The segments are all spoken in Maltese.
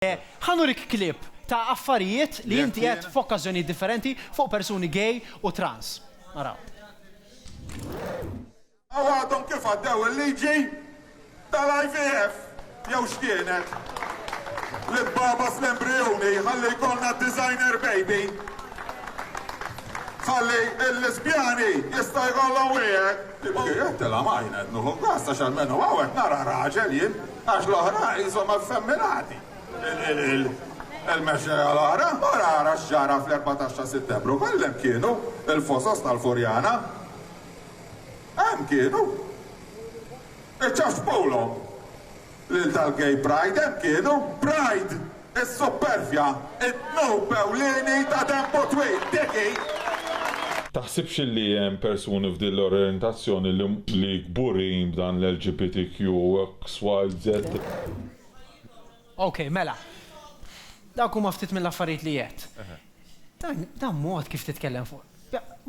Ħa nurik clip ta' affarijiet li inti għedt f'okkażjonijiet differenti fuq persuni gay u trans. Naraw. U għadhom kif għaddew il-liġi tal-IVF jew x'kienet? Li tbagħbas l-embrijuni ħalli jkollna designer baby. Ħalli l-lesbjani jistgħu jkollhom wieħed. Kieku jien qed tilamajna qed nieħu gost għax almenu hawn qed nara raġel jien għax l-oħra qishom effemminati. Il-mexxejja l-oħra mara ara x'ġara fl-Erbatax ta' Sittembru kollha hemm kienu, il-fosos tal-Furjana. Hemm kienu. Iċċaxxpulhom. Lil tal-Gay Pride hemm kienu. Pride! Is-suppervja, id-dnub ewlieni ta' tempo twil! Dik hi! Taħsibx li hemm persuni f'din l-orjentazzjoni li kburin b'dan l-LGBTQ, XYZ? Okej, mela. Dawk huma ftit mill-affarijiet li għedt. Dan mod kif titkellem fuq.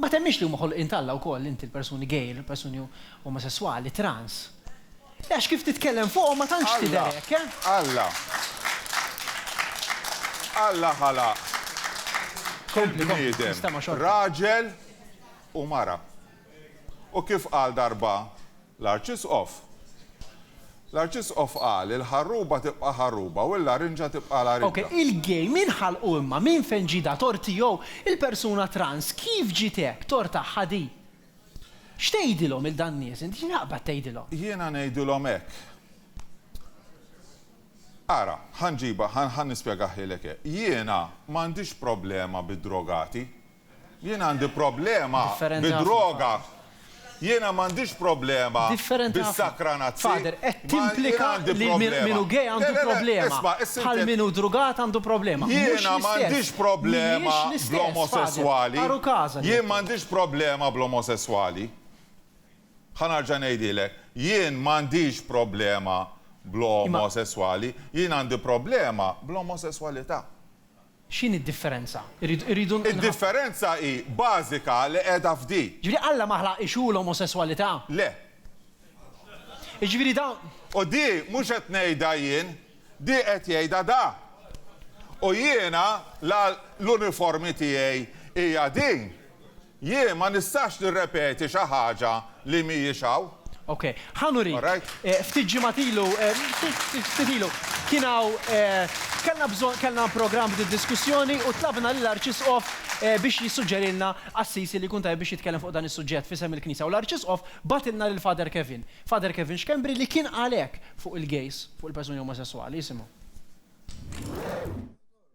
Ma temminx li huma ħolqien t'Alla wkoll inti l-persuni gay, il-persuni omosesswali, trans? Le għax kif titkellem fuqhom ma tantx tidher hekk, eh? Alla. Alla ħalaq il-bniedem raġel u mara. U kif qal darba l-Arċisqof? L-Arċisqof qal, Il-ħarruba tibqa' ħarruba u l-larinġa tibqa' larinġa. Ok, il-gay min ħalqu imma? Min fejn ġie da tort tiegħu? Il-persuna trans kif ġiet hekk? Tort tagħha di? X'tgħidilhom il dan nies int? X'taqbad tgħidilhom? Jiena ngħidilhom hekk. Ara, ħa nġibha, ħa nispjegah lilek hekk. Jiena m'għandix problema bid-drogati, Jien għandi problema bid-droga. Jiena m'għandix problema bis-sakranazzi. Father, qed timplika li min hu gay għandu problema, bħal min hu drugat għandu problema. Mhux l-istess. Jiena m'għandix problema bl-omosesswali. Jien m'għandix problema bl-omosesswali. Ħa nerġa' ngħidilek, jien m'għandix problema bl-omosesswali, jien għandi problema bl-omosesswalità. X'inhi d-differenza? Irridu. Id-differenza hi bażika li qiegħda f'din. Jiġifieri Alla ma ħlaq ix u l-omosesswalità? Le. Jiġifieri dawn. U di mhux qed ngħidha jien, di qed jgħidha da. U jiena l-uniformi tiegħi hija din. Jien ma nistax nirrepeti xi ħaġa li mhijiex hawn. Ok, ħa nurik. Alright. Ftit ġimgħat ilu, ftit ilu, kien hawn, kellna bżonn, kellna programm f'din id-diskussjoni u tlabna lill-Arċisqof biex jissuġġerilna qassisi li jkun tajjeb biex jitkellem fuq dan is-suġġett f'isem il-Knisja u l-Arċisqof bagħatilna lil Father Kevin, Father Kevin Schembri li kien qal hekk fuq il-gays, fuq il-persuni omosesswali. Isimgħu.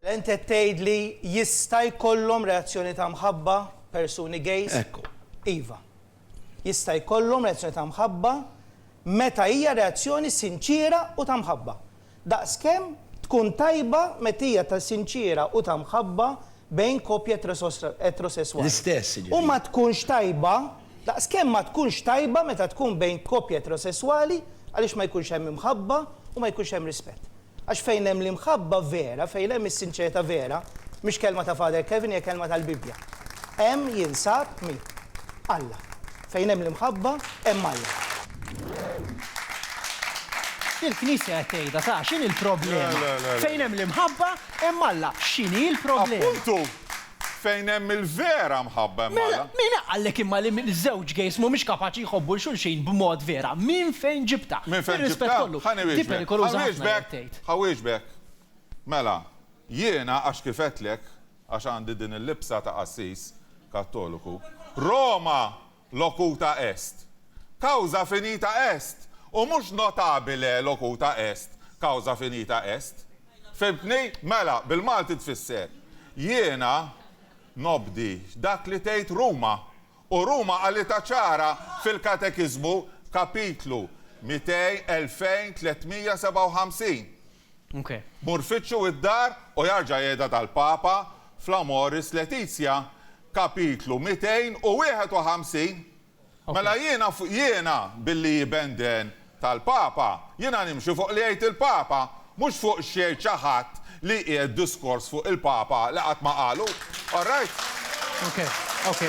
Int qed tgħid li jista' jkollhom reazzjoni ta' mħabba persuni gays? Ekku. Iva. Jista' jkollhom reazzjoni ta' mħabba meta hija reazzjoni sinċiera u ta' mħabba. Daqskemm tkun tajba meta hija ta' sinċiera u ta' mħabba bejn koppja etrosesswali. L-istess, jiġifieri. U ma tkunx tajba, daqskemm ma tkunx tajba meta tkun bejn koppja etrosesswali għaliex ma jkunx hemm imħabba u ma jkunx hemm rispett. Għax fejn hemm l-imħabba vera, fejn hemm is-sinċerità vera, mhix kelma ta' Father Kevin hija kelma tal-Bibbja, hemm jinsab min? Alla. Fejn hemm l-imħabba, hemm Alla. Il-Knisja qed tgħidha, ta' x'inhi l-problema? Fejn hemm l-imħabba, hemm Alla. X'inhi l-problema? Appuntu! Fejn hemm il-vera mħabba hemm Alla. Mela, min qallek imma li żewġ gays m'humiex kapaċi jħobbu 'l xulxin b'mod vera? Minn fejn ġibtha? Minn fejn ġibtha? Ħa niwieġbek. Ħa nwieġbek. Ħa nwieġbek. Mela, jiena għax kif għedtlek, għax għandi din il-libsa ta' qassis Kattoliku, Roma, locuta est, causa finita est, u mhux notabile locuta est, causa finita est. Fhimtni? Mela, bil-Malti tfisser, Jiena nobdi dak li tgħid Ruma. U Ruma qalitha ċara fil-Katekiżmu, Kapitlu 200, 2357, Mur fittxu id-dar u jarġa' qiegħda tal-Papa fl-Amoris Laetitia, kapitlu 251, Mela jiena, jiena, billi hi benden tal-Papa, jiena nimxi fuq li jgħid il-Papa, mhux fuq x'jgħid xi ħadd li jqiegħed diskors fuq il-Papa li qatt ma qalu. All right?